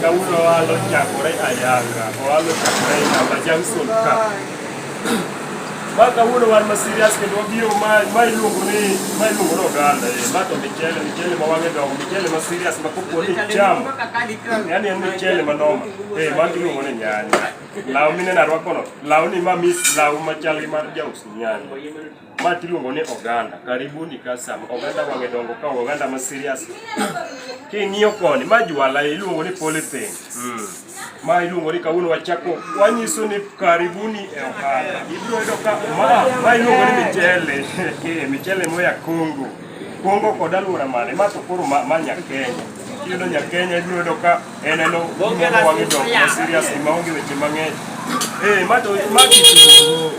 kawuono walo chakore ayanga owalo chakore ayanga junction ka ma kawuono wan ma serious kendo wabiro ma ma iluongo ni ma iluongo ni oganda eh ma to michele michele ma wange dongo michele ma serious ma koponi cham yani en michele ma noma Eh, mano iluongo ni nyanya. Law mineno arwakono, law ni ma mis law machal gi mar jaus nyanya. Ma tiluongo ni oganda, karibuni kasam. Oganda wang'e dongo ka oganda ma serious. King'iyo koni, ma jwala iluongo ni polythene. Mm. Ma iluongo ni kawuono wachako wanyiso ni karibuni e ohala. Ibiro yudo ka ma ma iluongo ni michele. Eh, michele moya Kongo. Kongo kod alwora mane, ma to koro ma, ma Nyakenya. Kiyudo Nyakenya ibiro yudo ka Eh, neno Bonge la wangi dok sufuria. ma serious ni maonge weche mang'eny. Eh, ma to ma kitungu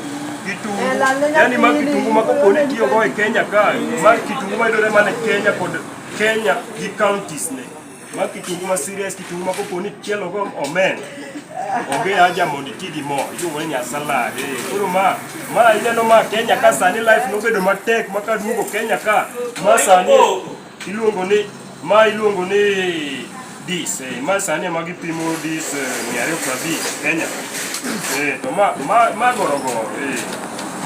kitungu. Eh, la lenya Yaani ma pili. kitungu ma koponi tiyo go e Kenya ka. Ma kitungu ma yudore mana e Kenya kod Kenya gi counties ne. Ma kitungu ma serious kitungu ma koponi chielo go omen. Onge haja mondo iti gi mo, iluongo ni nyasala. Eh, koro ma ma ineno ma Kenya ka sani life nobedo matek ma kaduogo Kenya ka. Ma sani Iluongo ni ma iluongo ni dis eh, ma sani ema gipimo dis eh, mia ariyo prabich Kenya eh, to ma, ma, ma gorogoro eh.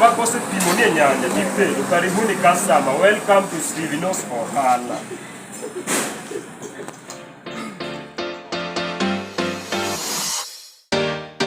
ma kosepimo ni e nyanja tipedo karibuni customer welcome to Stevenos Ohala